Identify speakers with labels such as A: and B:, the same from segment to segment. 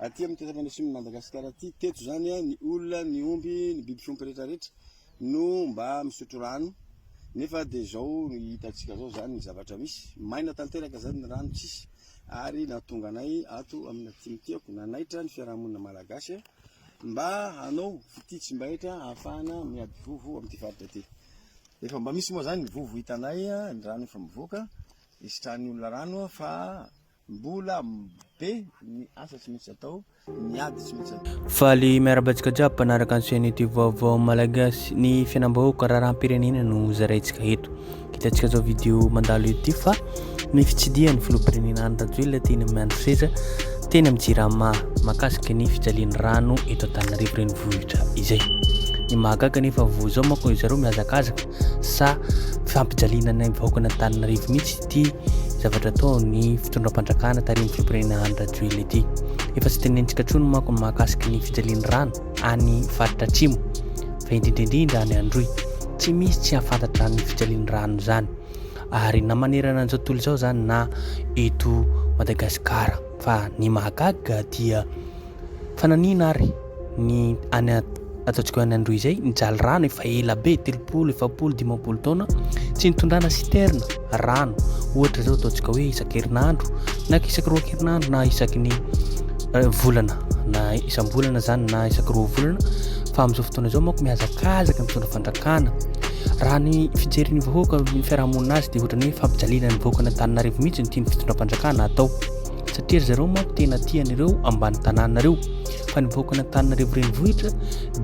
A: Aty amin'ny toetra manesin'i Madagasikara aty, teto izany, ny olona, ny omby, ny biby fiompy rehetrarehetra no mba misotro rano, nefa dia izao hitantsika izao izany ny zavatra misy, maina tanteraka izany ny rano, tsisy, ary nahatonga anay ato amin'ny aty mitiako, nanaitra ny fiarahamonina malagasy mba hanao fitia tsy mba hetra hahafahana miady vovo amin'ity faritra ity. Efa mba misy moa izany ny vovo hitanay, ny rano efa mivoaka, hisitrahan'ny olona rano fa Mbola be ny asa tsy maintsy atao, ny ady tsy maintsy atao. Faly miarahaba antsika
B: jiaby mpanaraka ny chaîne YouTube Vaovao Malagasy. Ny fiainam-bahoaka raharaham-pirenena no zaraintsika eto. Hitantsika zao vidéo mandalo eto ity fa ny fitsidihan'ny filoham-pirenena Andry Rajoelina teny amin'ny andro seza teny amin'ny Jirama mahakasika ny fijalian'ny rano eto Antananarivo renivohitra izay. Ny mahagaga nefa vao izao manko ry zareo mihazakazaka sa fampijaliana ny vahoaka an'Antananarivo mihitsy ity zavatra ataon'ny fitondram-panjakana tarihin'ny fimpirena Andry Rajoelina ity. Efa tsy tenentsika intsony manko ny mahakasika ny fijalian'ny rano any faritra Atsimo fa indrindra indrindra any Androy. Tsy misy tsy hahafantatra ny fijalian'ny rano izany ary na manerana an'izao tontolo izao izany na eto Madagasikara fa ny mahagaga dia Fa nanina ary ny any ataontsika hoe any Androy izay, nijaly rano efa ela be, telopolo, efapolo, dimampolo taona, tsy nitondrana citerne rano. Ohatra izao ataontsika hoe isan-kerinandro, na isaky roa kerinandro, na isaky ny eh, volana, na isam-bolana zany, na isaky roa volana. Fa amin'izao fotoana izao manko mihazakazaka mitondra fandrakana. Raha ny fijerin'ny vahoaka, ny fiarahamonina azy dia ohatra ny hoe fampijaliana ny vahoaka an'Antananarivo mihitsy ny tian'ny fitondram-panjakana atao. satria ry zareo manko tena tia an'ireo ambany tanàna ireo fa ny vahoakan'Antananarivo renivohitra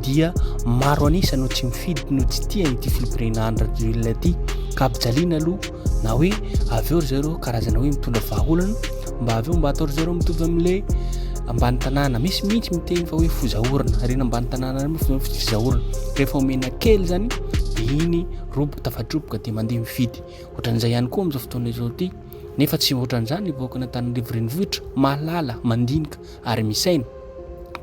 B: dia maro an'isa no tsy mifidy no tsy tia ity filoham-pirenena Andry Rajoelina ity ka ampijaliana aloha na hoe avy eo ry zareo karazana hoe mitondra vahaolana mba avy eo mba atao ry zareo mitovy amin'ilay ambany tanàna misy mihitsy miteny fa hoe fozaorana ary na ambany tanàna ary moa fozaorana rehefa omena kely zany dia iny roboka tafadroboka dia mandeha mifidy ohatran'izay ihany koa amin'izao fotoana izao ity Nefa tsy ohatran'izany ny vahoakan' Antananarivo Renivohitra, mahalala, mandinika ary misaina.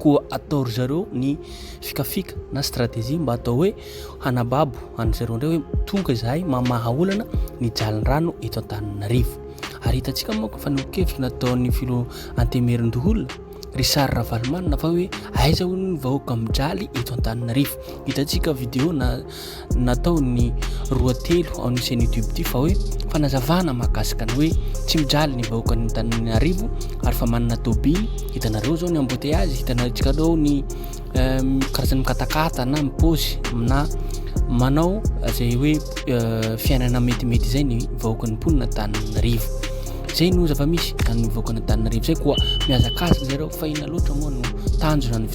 B: Koa atao ry zareo ny fikafika na stratégie mba atao hoe hanababo an'i zareo indray hoe tonga izahay mamaha olana ny jalin-drano eto Antananarivo. Ary hitantsika moa fa ny kevitra nataon'ny filo Antemerin-doholona Richard Ravalomanana fa hoe aiza hono ny vahoaka mijaly eto Antananarivo. Hitantsika vidéo na nataon'ny roa telo ao ny chaine youtube ity fa hoe fanazavana mahakasika ny hoe tsy mijaly ny vahoakan'ny Antananarivo ary fa manana tobily hitanareo zao ny embouteillage hitanaretsika reo ny euh, karazan'ny mikatakata na mipozy na manao zay hoe euh, fiainana metimety izay ny vahoakan'ny mponina Antananarivo zay no zava-misy an'ny vahoakan'ny Antananarivo zay koa mihazakazaka zareo fa ina loatra moa no tanjona ny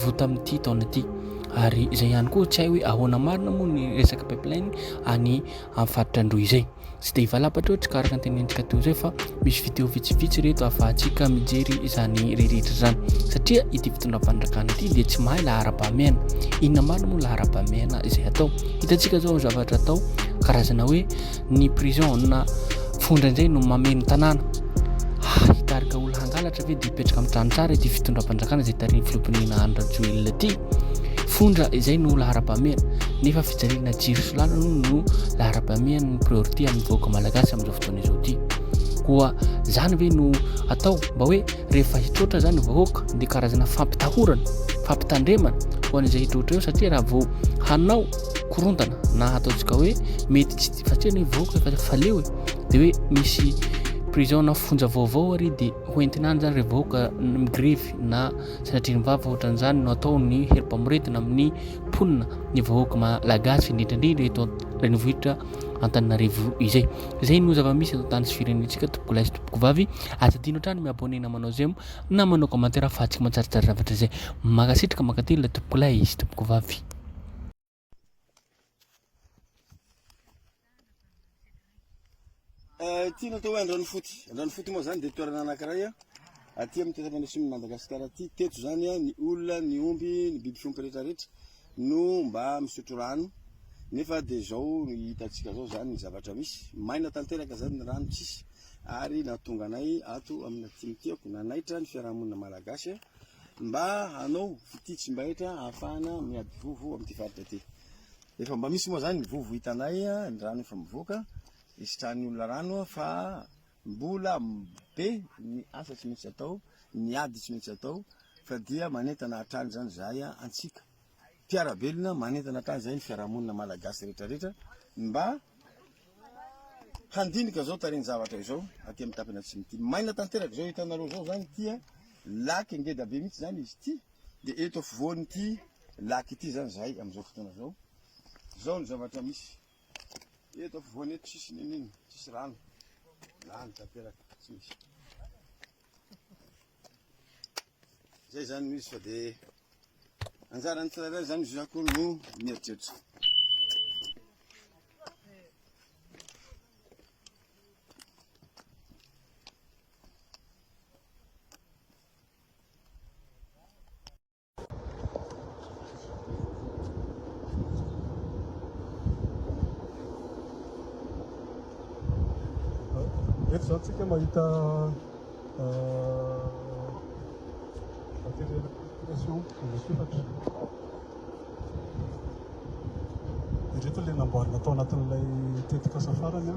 B: vao tamin'ity taona ity ary izay ihany koa tsy hay hoe ahoana marina moa ny resaka pipeline any amin'ny faritra Androy izay tsy dia hivalapatra ohatry ka araka ny tenentsika teo izay fa misy video vitsivitsy reto afahantsika mijery izany rehetra izany satria ity fitondram-panjakana ity dia tsy mahay laharam-pahamehana inona marina moa laharam-pahamehana izay atao hitantsika izao zavatra atao karazana hoe ny prison na fo indraindray no mameno tanàna ah hitarika olona hangalatra ve dia hipetraka amin'ny trano tsara ity fitondram-panjakana izay tarihin'ny filoham-pirenena Andry Rajoelina ity fondra izay no laharam-pahamehana nefa fijaliana jiro sy làlana aloha no laharam-pahamehana ny priorité amin'ny vahoaka malagasy amin'izao fotoana izao ity koa izany ve no atao mba hoe rehefa hitroatra zany ny vahoaka dia karazana fampitahorana fampitandremana ho an'izay hitroatra eo satria raha vao hanao korontana na hataontsika hoe mety tsy fa tena hoe vahoaka efa faleo e dia hoe misy prison na fonja vaovao ary dia hoentina any zany re vahoaka migrevy na sanatrin'ny vava ohatran'izany no atao ny herim-pamoretina amin'ny mponina ny vahoaka malagasy indrindraindrindra eto renivohitra antananarivo izay izay no zava-misy eto tany sy firenentsika tompokolaizina Tovovavy, aza adino hatrany mi abonner na manao j'aime na manao commentaire fa tsy mantsaritrary zavatra izay. Mankasitraka mankatelina ilay tompokolahy sy tompokovavy.
A: Eh, ity natao hoe andranofoty andranofoty moa zany de toerana anakiray a aty amin'ny tetapanasimn'i madagasikara aty teto zany a ny olona ny omby ny biby fiompy rehetrarehetra no mba misotro rano nefa dia zao hitantsika zao zany ny zavatra misy maina tanteraka zany ny rano tsisy ary nahatonga anay ato amina tim tiako nanaitra ny fiarahamonina malagasy mba hanao fitia tsy mbahetra hahafahana miady vovo amin'ity faritra ity efa mba misy moa zany ny vovo hitanay ny rano efa mivoaka isitrahan'ny olona rano fa Mbola be ny asa tsy maintsy atao, ny ady tsy maintsy atao fa dia manentana hatrany izany izahay antsika mpiara-belona, manentana hatrany izahay ny fiarahamonina malagasy rehetra rehetra mba handinika izao tarehin-javatra izao aty amin'ny tapany atsimo ity. Maina tanteraka izao hitanareo izao izany ity an, lac ngeda be mihitsy izany izy ity, dia eto afovoan'ity lac ity izany izahay amin'izao fotoana izao. Izao ny zavatra misy. Eto afovoany eto tsisy ninino, tsisy rano. Lany tanteraka, tsy misy. Zay zany no izy fa de anjaran'ny tsirairay zany izy akory no mieritreritra.
C: Eto izao tsika mahita materiel application anasofatra. Ireto ilay namboarina tao anatin'ilay tetikasa farany.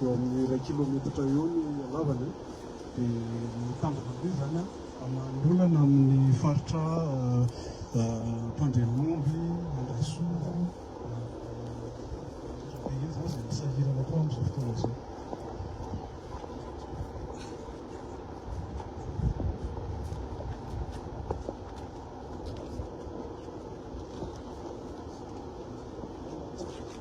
C: Eo amin'ny iray kilometatra eo ny halavany dia mitambatra be izany an! Manoloana amin'ny faritra Ampandenomby, Andrasoa, Andrabe iny izany izay misahirana koa amin'izao fotoana izao.